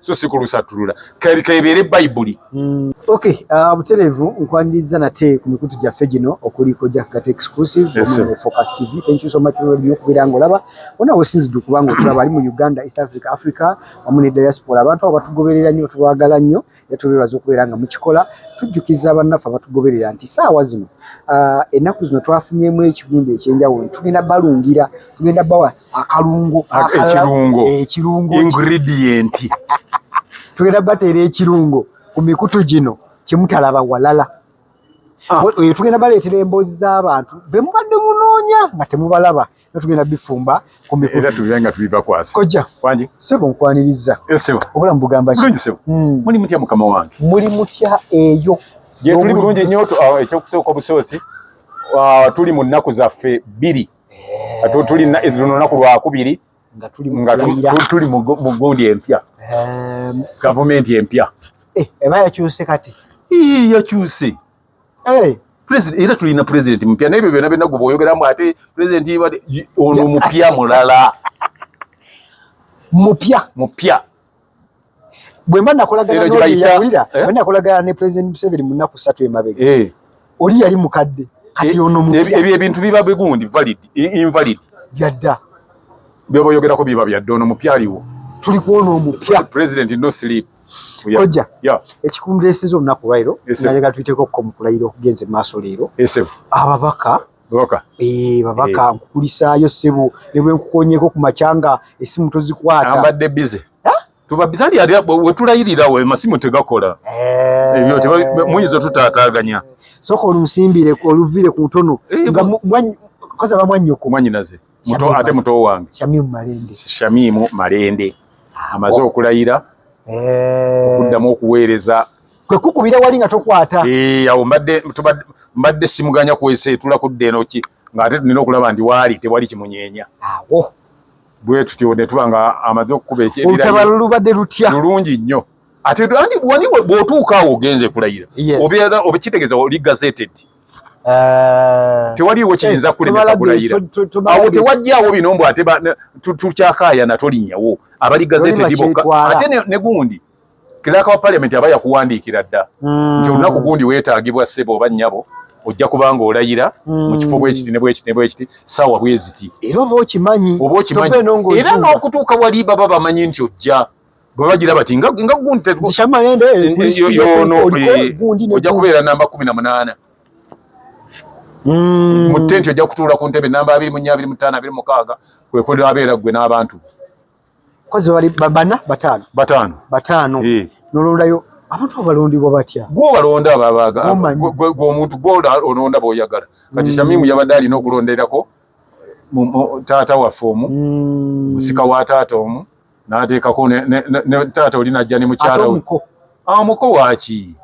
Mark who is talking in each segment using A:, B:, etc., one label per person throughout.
A: so si kulusattulula kebeere bayibuli mm. ok uh,
B: butereevu nkwaniriza nate ku mikutu gyaffe gino okuliko jakgate exclusive focus tv thank you so much nyo okubeera nga olaba ona wesinzidde okubanga otulaba ali mu uganda east africa africa wamu ne diaspora abantu abo batugoberera nnyo tubagala nnyo yatubeebaza okubeera nga mukikola tujjukiza bannaffe abatugoberera nti saawa zino uh, ennaku zino twafunyemu ekigundu ekyenjawulo tugenda balungira tugenda bawa akalungo ekirungo ekirungo ingredient tugenda bateera ekirungo ku mikutu gino kyemutalaba walala ah. oyo tugenda baleetera emboozi z'abantu be mubadde munoonya nga temubalaba nga tugenda bifumba ku mikutu tugenda nga tubibakwasa
A: kojja wangi sebo nkwaniriza
B: eh, sebo obulamu bugamba
A: bulungi
B: sebo hmm. muli
A: mutya mukama wange muli mutya
B: eyo gyetuli bulungi
A: nnyo ah, ekyokusooka obusoosi ah, tuli mu nnaku zaffe bbiri eh. tuli luno naku lwakubiri nga tuli mu gundi empya eh. gavumenti empya eh, eba yakyuse
B: kati yakyuse
A: era tulina pulezidenti mupya naye ebyo byona byona gwe boyogeramu ate pulezidenti ono mupya mulala mupya mupya
B: bwe mba nakolagana n'oyo yawulira eh? bwe nakolagana ne president Museveni mu nnaku ssatu emabega eh. oli yali mukadde kati eh, ono mupya ebyo ebintu biba bigundi
A: valid invalid byadda
B: byoba
A: oyogerako biba byadda ono mupya aliwo tuli kuona
B: omupya president no sleep
A: koja
B: ekikumulesiza olunaku lwairo nayaga tuyiteko ko mukulayiro okugenze maaso leero ababaka babaka eh babaka eh. nkukulisaayo sebo ne bwe nkukonyeko ku machanga esimu tozikwata ambadde busy
A: tuba bizali yali wetulayirira we masimu tegakola eh. ebyo eh. teba muyizo tutaataganya soko olusimbire
B: ko oluvire ku ntono eh, nga mwanyi koza ba mwanyi ko mwanyi naze muto
A: ate muto wange shamimu malende shamimu malende ah, amaze okulayira eh okuddamu okuweereza kwe kukubira
B: wali nga tokwata eh, awo mbadde
A: mbadde simuganya kwese etula kudda eno ki ng'ate nina okulaba ndi waali tewali kimunyeenya awo
B: bwe tutyo
A: ne tuba nga amaze okukuba ekyebiralutalo lubadde
B: lutya lulungi nnyo
A: ate andi wani bw'otuuka awo ogenze kulayira obeera obekitegeeza oli gazeted eh, tewaliwo eh, kiyinza kulemesa kulayira awo tewajjawo bino mbu ate tukyakaayana tolinnyawo abali gazeted bokka ate ne gundi Clerk wa Parliament aba yakuwandiikira dda mm. nti olunaku gundi weetaagibwa ssebo oba nnyabo ojja kubanga olayira mm. mu kifo bwekiti ne bwekiti ne bwekiti saawa bweziti era oba okimanyi
B: oba okimanyi era
A: n'okutuuka wali baba bamanyi nti ojja bwe bagira bati nga gundi ojja kubeera namba kumi na munaana mm. mu tenti ojja kutuula ku ntebe namba abiri mu nnya abiri mu ttaano abiri mukaaga kwekulira abeera ggwe n'abantu Kozi
B: wali babana batano. Batano. Batano. Eh. Nolonda yo abantu abalondibwa batya? Gwo balonda ababaga.
A: Gwo omuntu gwo olonda boyagala. Kati mm. Shamimu yabadde alina okulonderako taata waffe omu mm. musika wa taata omu n'ateekako ne taata oli najja ne mukyala we awo muko waaki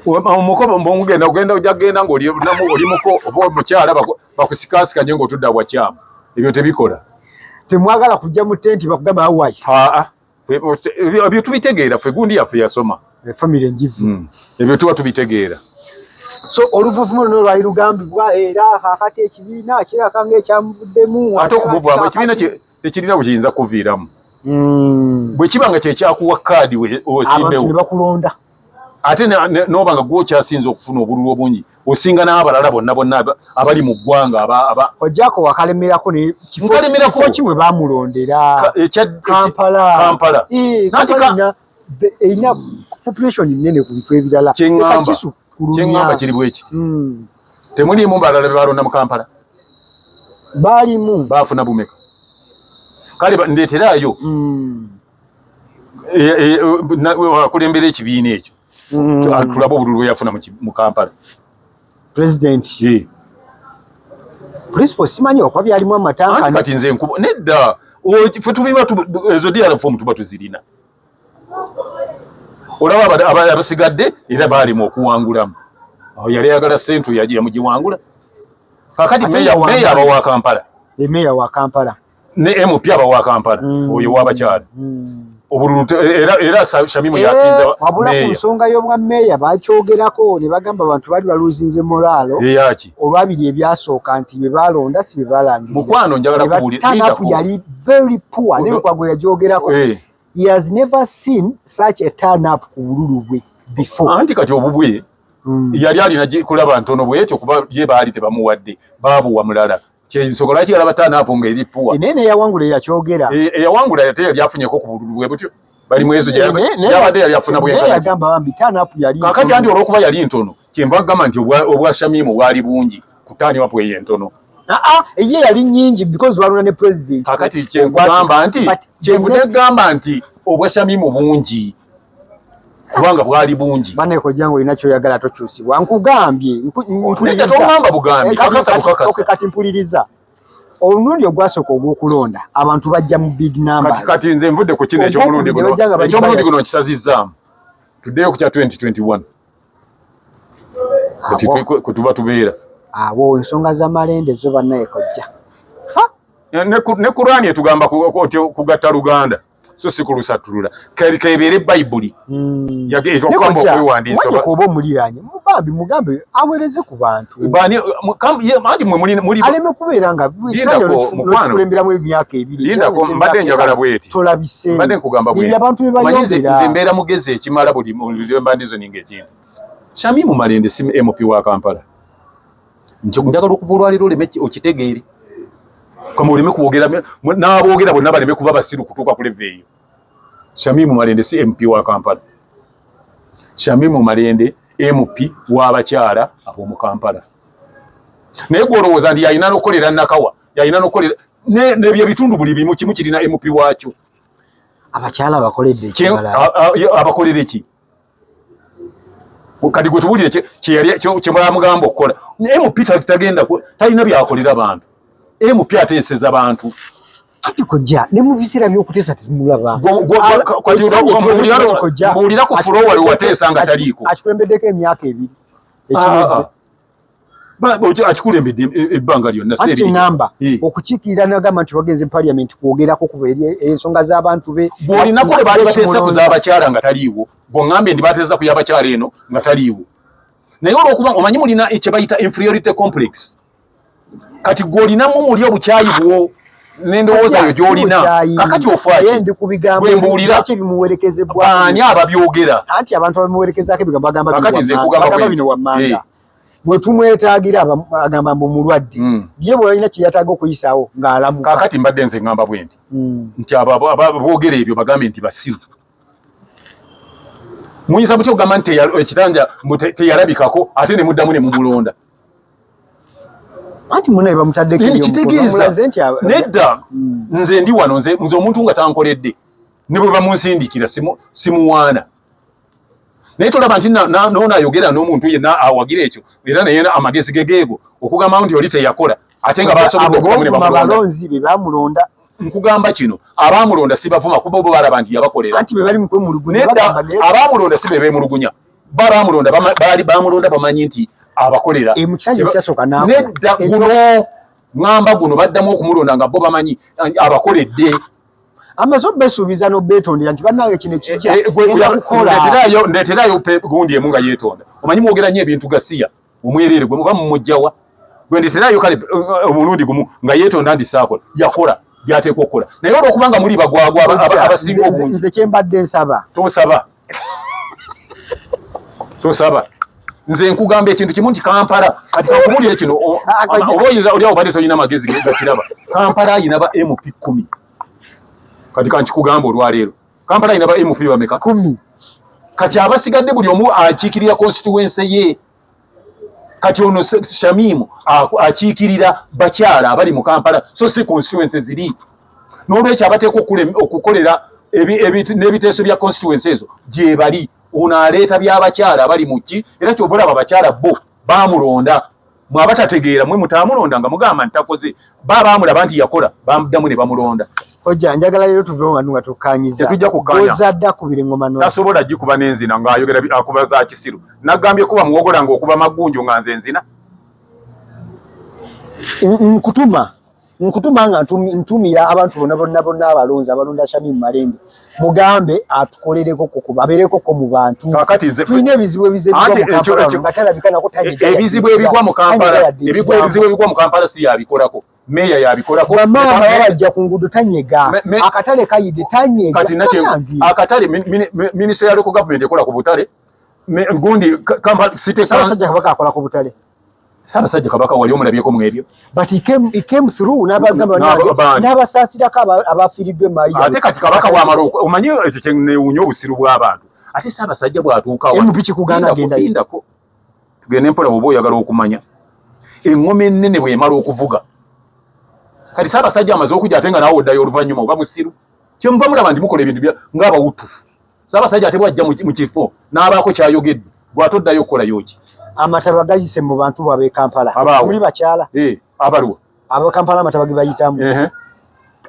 A: awo muko mugenda ogenda ojja kugenda ng'oli muko oba omukyala bakusikasikanye ng'otudda bwakyamu ebyo tebikola temwagala
B: kujja mu tenti bakugamba awayi aa
A: ebyo tubitegeera ffe gundi yaffe yasoma eh, famiry enjivu
B: hmm. ebyo tuba
A: tubitegeera so
B: oluvuvuma luno lwali lugambibwa era kakati ekibiina kiraka ngaekyamuvuddemu ate okumuvaamu ekibiina
A: tekirina bwe kiyinza kuviiramu hmm. bwe kiba nga kyekyakuwa kaadi osimbewo
B: ate
A: noba nga gwokyasinza okufuna obululu obungi osinga n'abalala bonna bonna abali mu ggwanga ojako
B: wakalemerako nekifokyi we bamulondera kampala erina population nene ku bifo ebirala kyeŋamba
A: kiri bwekiti hmm. temuliimu balala bebalonda mu kampala
B: baalimu baafuna bumeka
A: kale ndeeterayo hmm. akulembera ekibiina ekyo mm. tulaba obululu bweyafuna mu kampala president
B: principal simanyi okuba byalimu amatanka kati nze nkuba nedda
A: fe tubiba ezo dr fomu tuba tuzirina olaba abasigadde era baalimu okuwangulamu awo yali ayagala sentu yamugiwangula kakati meya abawa kampala emeya wa kampala
B: ne MP aba
A: wa Kampala mm. oyo wabakyala mm. obululu era era Shamimu eh, yasinza wabula ku nsonga
B: y'obwa meeya bakyogerako ne bagamba abantu bali baluzinze moralo eyaki olwabiri
A: ebyasooka
B: nti bye balonda si bye balangira mukwano njagala kubuulira
A: tanapu yali very
B: poor ne lukwago yagyogerako eh. he has never seen such a turn up ku bululu bwe before anti kati obubwe mm.
A: yali alina kulaba ntono bwetyo kuba ye baali tebamuwadde baabuwa mulala kyensonga lwaki yalaba tanaapu nga eri puwa naye neyawangula yakyogera
B: e, eyawangula yate yali
A: afunyeko ku bululu bwe butyo bali mwezo gyabadde yali afuna bwenkakati
B: andi olwokuba yali
A: ntono kyenva kugamba nti obwa shamimu bwali bungi ku taaniwapu eyo entono aa eye yali
B: nyingi because lwaluna ne president kakati kyenkugamba
A: nti kyenvudde gamba nti obwa shamimu bungi kubanga bwali bungi bane ko jangu ina kyo
B: yagala to chusi wangu gambye mpuliriza to
A: mamba bugambi eh, kaka kaka okay kati
B: mpuliriza onundi ogwaso ko gwokulonda abantu bajja mu big number kati kati nze mvude ku kine
A: ekyo mulundi guno ekyo mulundi guno kisazizza today ku 2021 kati ko tuba tubera abo nsonga
B: za malende zo banaye kojja
A: ne ku ne kurani etugamba ku ku gatta luganda so si kulusattulula kalika ebeere bayibuli hmm. okugamba okwewandiisa oba omuliraanye
B: bambi mugambe aweereze ku bantu anti mwealeme kubeera nga kulemberamu emyaka ebirimbadde njagala
A: bweti tolabisembadde nkugamba
B: bweabantu
A: bebayonze
B: mbeera mugezi
A: ekimala buli mbandizo ninga ekintu shamimu malende si mp wa kampala nti njagala okuva olwaleero oleme okitegeere kama oleme kwogera n'aboogera bonna baleme kuba basiru kutuuka ku leva eyo shamimu malende si mp wa kampala shamimu malende mp w'abakyala ab'omu kampala naye gwolowooza nti yalina nokukolera nakawa yalina nokukolera nebyo ebitundu buli bimu kimu kirina mp waakyo abakyala
B: abakoledde abakolere
A: ki kati gwe tubulire kyemwamugamba okukola mp tagenda talina byakolera bantu mp ateeseza bantu kati kojja
B: ne mu biseera by'okuteesa temulaba
A: mbuulira ku fulowa lwe wateesa nga taliiko akikulembeddeko emyaka
B: ebiri ah, ah.
A: akikulembedde e, e, ebbanga lyonnaamba eh.
B: okukiikirira nagamba nti wagenze mu paliament kwogerako kuba ensonga z'abantu be bwolinako lwe baali bateesa
A: ku z'abakyala nga taliiwo bwoŋŋambye ndi bateesa ku y'abakyala eno nga taliiwo naye olwokuba omanyi mulina kye bayita inferiority complex kati gw'olinamu muli obukyayi bwo nendowooza yo gyolina kakati ofakiwembuuliraani ababyogera anti abantu abamuwerekezako
B: ebigambo agambakati nze kugamba
A: bino wammanga
B: bwetumwetagira agamba mbu mulwadde hmm. ye bweyalina kyeyataga okuyisaawo ngaalamu kakati mbadde nze ngamba
A: bwendi hmm. nti ababogera ebyo bagambe nti basiru muyinza mutya okugamba nti ekitanja teyalabikako ate nemuddamu nemumulonda
B: anti munaye bamutaddeko eh, kitegeeza
A: nedda hmm. nze ndi wano nze omuntu nga tankoledde ne bwe bamunsindikira simuwaana naye tolaba nti noona ayogera n'omuntu yenna awagira ekyo era naye amagezi gegeego okugamba nti oli teyakola ate nga basoboabalonzi
B: be bamulonda nkugamba kino
A: abamulonda sibavuma kuba obo balaba nti yabakolera
B: abamulonda
A: si be bemulugunya baamulonda baali baamulonda bamanyi nti abakolera e, nedda guno ŋamba guno baddamu okumulonda nga bo bamanyi abakoledde amaze
B: obesuubiza nobeetondera nti bannange kino ekijja eh, eh, kukola ndeeterayo
A: gundi emu nga yeetonda omanyi mwogera nnyo ebintu gasiya omwerere gwe muba mumujjawa gwe nditerayo kale eh, omulundi gumu nga yetonda ndisaakola yakola byateekwa okukola naye olwokubanga muli bagwagwa abasinga obungi nze kyembadde nsaba
B: tosaba
A: tosaba nze nkugamba ekintu kimu nti kampala kati kakubulire kino oba oyinza olyawo badde tolina magezi gakiraba kampala ayina ba mp kumi kati kankikugamba olwaleero Kampala ina ba MP bameka? Kumi.
B: Kati
A: abasigadde buli omu akiikirira constituency ye. Kati ono Shamimu akiikirira bakyala abali mu Kampala so si constituency ziri. N'olwekyo abateekwa okukolera n'ebiteeso bya constituency ezo gyebali. Ono aleeta by'abakyala abali mu ki era ky'ova olaba abakyala bo baamulonda. mwe abatategeera mwe mutaamulonda nga mugamba nti takoze ba baamulaba nti yakola bamuddamu ne bamulonda ojja
B: njagala leero tuve mu bantu nga tukkaanyiza tetujja kukkaanyaoza adde
A: akubira engoma no
B: tasobola gikuba n'enzina
A: ng'ayogera akuba za kisiru nagambye kuba muwogola ng'okuba magunju nga nze nzina nkutuma
B: nkutuma nga ntumira abantu bona bona bona abalonzi abalonda Shamim Malende mugambe atukolereko koko babereko ko mu bantu kakati nze tulina ebizibu
A: ebizibu
B: ate ekyo ekyo batala bikana ko tani e, ebizibu ebigwa mu
A: Kampala ebigwa ebizibu ebigwa mu Kampala si yabikolako meya yabikolako mama abajja ku
B: ngudo tanyega akatale kayide tanyega kati nakye
A: akatale minister ya local government ekola ku butale gundi Kampala city council sajja kabaka akola ku
B: butale Ssaabasajja Kabaka
A: wali omulabyeko mu ebyo but he came, he
B: came through n'abagamba n'abasaasirako abafiiriddwa emmaali ate kati Kabaka bw'amala
A: omanyi ekyo kye neewunya obusiru bw'abantu ate Ssaabasajja bw'atuukawo empi kikugaana
B: agendayindako
A: tugende mpola bw'oba oyagala okumanya eŋŋoma ennene bw'emala okuvuga kati Ssaabasajja amaze okujja ate nga naawe oddayo oluvannyuma oba musiru kyemuva mulaba nti mukola ebintu ng'abawutufu Ssaabasajja ate bw'ajja mu kifo n'abaako ky'ayogedde gwe ate oddayo okukola yoki? Amataba gayise
B: mu bantu bwab'e Kampala muli bakyala eh, abalwa
A: ab'e Kampala
B: amataba ge bayisaamu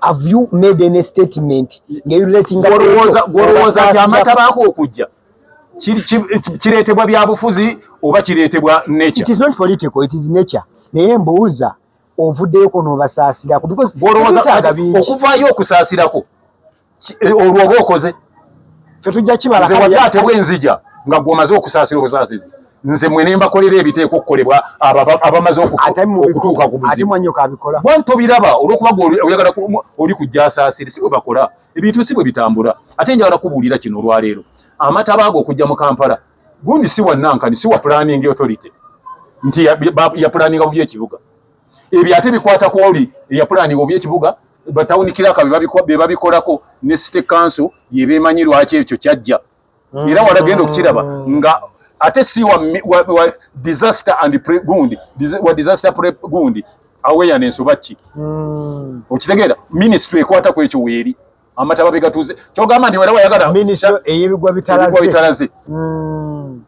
B: have you made any statement ngeyuletinggolowooza
A: nti amataba ako okujja kireetebwa byabufuzi oba kireetebwa nature? It is not political, it
B: is nature. Naye mbuuza ovuddeyo kono obasaasirako because okuvaayo
A: okusaasirako eh, olwo oba okoze fe tujja
B: kibala nze wali atebwa enzija
A: nga gwe omaze okusaasira obusaasizi nze mwe ne mbakolera ebiteeka okukolebwa abamaze okutuuka ku buzibuwanto
B: biraba olwokuba
A: gwe oyagala oli kujja asaasire si bwe bakola ebintu si bwe bitambula ate njagala kubuulira kino olwaleero amataba ago okujja mu kampala gundi si wa nankani si wa planning authority nti yapulaninga bubi ekibuga ebyo ate bikwata ku oli eyapulaninga oba ekibuga batawuni kiraka be babikolako ne city council yebemanyi lwaki ekyo kyajja mm. era walagenda okukiraba nga ate si wa, wa, wa disaster and pre, gundi Dis, wa disaster pre, gundi awareness oba ki mm. okitegeera ministry ekwata ku ekyo weeri amataba begatuze kyogamba nti wera wayagala ministry eyebigwa
B: bitalaze
A: bitalaze mm.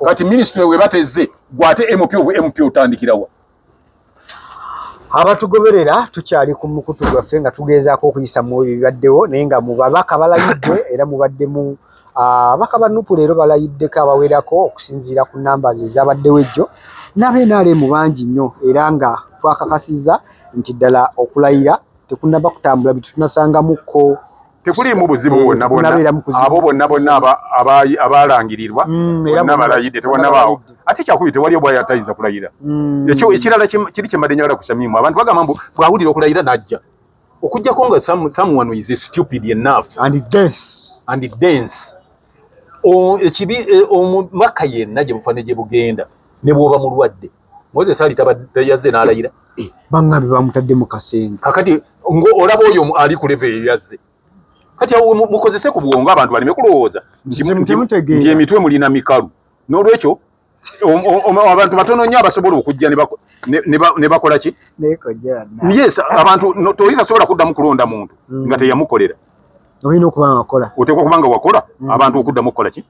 A: kati ministry webateze gwate mp obu mp otandikirawa
B: abatugoberera tukyali ku mukutu gwaffe nga tugezaako okuyisa mu ebyo bibaddewo naye nga mu babaka balayiddwe era mubaddemu Ababaka ah, ba nupu leero balayiddeko abawerako okusinziira ku numbers ezabaddewo ejjo naba nrm bangi nnyo era nga twakakasiza nti ddala okulayira tekunaba kutambula bitunasangamukko tekuliimu
A: buzibu eh, bwonna bwonna abo bonna bonna abalangirirwa mm, bonna balayidde tebonabaawo ate kyakubi tewali obwaya tayinza kulayira mm. ekyo ekirala kiri kyemade nyagala kukyamimu abantu bagamba mbu bwawulira okulayira najja okujjako nga some, someone is stupid enough and dense and dense ekibi e, omubaka yenna gye bufaane gye bugenda ne bwoba mulwadde moses ali tayazze n'alayira eh, baŋŋambi
B: bamutadde mu kasenga kakati
A: ng'olaba oyo ali ku leve eyazze kati awo mukozese ku bwongo abantu baleme kulowooza nti emitwe mulina mikalu n'olwekyo abantu batono nnyo abasobola okujja ne bakola ki yes abantu toyinza sobola kuddamu kulonda muntu mm. nga teyamukolera olina okuba
B: nga wakola oteekwa okuba nga wakola
A: mm. abantu okuddamu okukola ki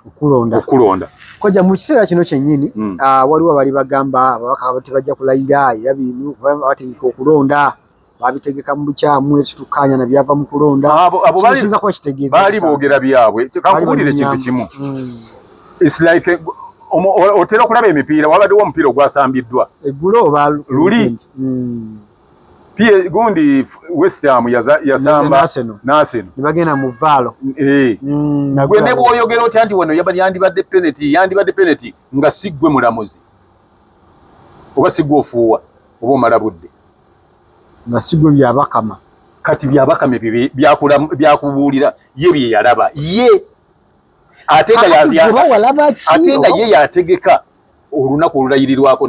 A: okulonda okulonda koja mu
B: kiseera kino kyennyini mm. ah, waliwo abali bagamba ababaka tebajja kulayira era bino batandika okulonda babitegeka mu bukyamu ekitukkaanya na byava mu kulonda kiyinza kuba
A: kitegeeza baali boogera byabwe kankubulira ekintu kimu hmm. its like otera okulaba emipiira wabaddewo omupiira ogwasambiddwa eggulo oba
B: luli
A: hmm. pie gundi west ham yasamba naseno nebagenda mu vaalo
B: eh. hmm,
A: gwe ne bwoyogera otya nti wano yandibadde peneti yandibadde peneti nga si gwe mulamuzi oba si gwe ofuuwa oba omala budde nga
B: sigwe byabakama kati byabakama
A: ebyo byakubuulira ye bye yalaba ye ate nga ye yategeka olunaku olulayirirwako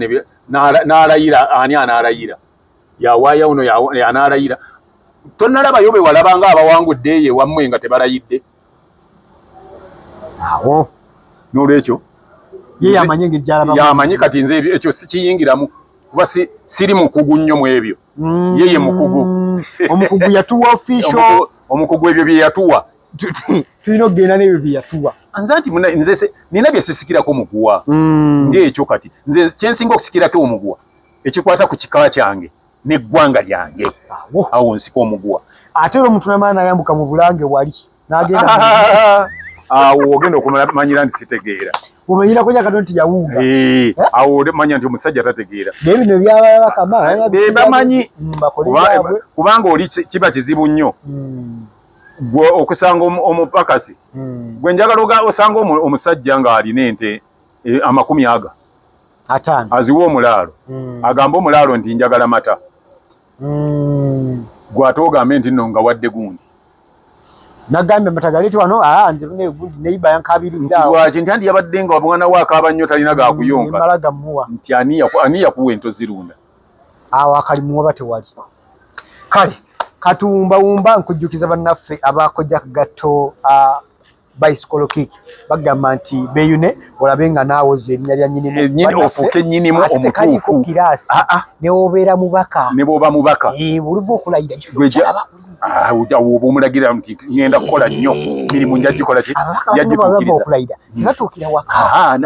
A: n'alayira ani anaalayira yawaayo ono anaalayira tonalabayo be walaba nga abawangudde eyo ewammwe nga tebalayidde
B: awo n'olwekyo
A: ye
B: yamanyi engeri gyalaba yamanyi
A: kati nze ebyo ekyo sikiyingiramu kuba siri mukugu nnyo mu ebyo mm. ye ye mukugu omukugu
B: yatuwa ofisho omukugu ebyo bye
A: yatuwa tulina
B: okugenda n'ebyo bye yatuwa nze nti nze
A: nina bye sisikirako muguwa mm. ng'ekyo kati nze kyensinga okusikirako omuguwa ekikwata ku kika kyange n'eggwanga lyange awo nsika omuguwa ate era omuntu namala
B: nayambuka mu bulange wali nagenda
A: awo ogenda okumanyira nti sitegeera omanyirako nyakano
B: nti yawuuga eh, eh? awo
A: manya nti omusajja tategeera naye bino
B: byababakamanyi eh, mm,
A: kubanga oli kiba kizibu nnyo mm. gwe okusanga omupakasi mm. gwe njagala osanga omusajja ng'alina ente amakumi aga aziwa omulaalo mm. agamba omulaalo nti njagala mata mm. gwate ogambe nti no nga wadde gundi
B: nagambye matagaliti wano ah, neiba yankabiriddawaki nti andi
A: yabadde nga omwana we akaaba nnyo talina gakuyonkamala mm, gamuwa nti ani yakuwa ento zirunda awo
B: akalimuwa ba tewali kale katuwumbawumba nkujjukiza bannaffe abakojja kugatto ah, bicycle kick bagamba nti beyune olabe nga naawe ozo erinnya lya nyinimu eh, ofuuke
A: nyinimu omutuufu ah, ah. newobeera
B: mubaka nebwoba mubaka
A: eh, oluva okulayira ah, oba omulagira nti ngenda kukola nnyo eh. mirimu njagikola ki yajjituukiriza
B: hmm. tebatuukira waka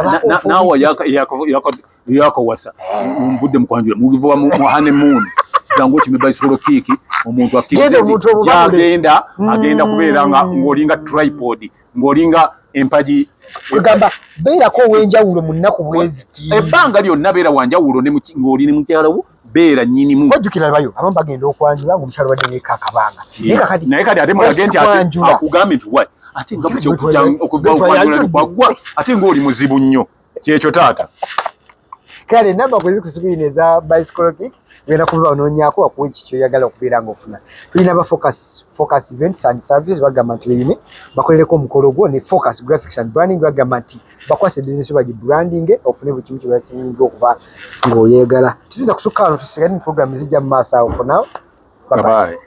B: naawe
A: yakawasa nvudde mukwanjula mugivuba mu hane moon kigambo kimi bicycle kick omuntu akkize agenda mm. agenda kubeera nga ng'olinga tripod ng'olinga empagi egamba
B: beerako ow'enjawulo mu nnaku bweziti ebbanga lyonna beera
A: wanjawulo ng'oli ne mukyala wo beera nyinimu ojjukira bayo abamu bagenda
B: okwanjula ng'omukyala wadde neeka akabanga naye kati ate
A: mulage nti akugambe nti wa ate nga bukya okugwa okwanjula ne kwagwa ate ng'oli muzibu nnyo kyekyo taata kale
B: namba kwezi kusikwini eza bicycle kick wena kuva ononyako wakuwa ekyo kyoyagala okubeera nga ofuna tulina ba focus focus events and services bagamba nti beyine bakolereko omukolo gwo ne focus graphics and branding bagamba nti bakwasa ebizinesi bagi branding ofune buli kimu kyebasinga okuba ngaoyegala tituyinza kusukka wano tusigale ne program ezijja mu maaso awo for now bye bye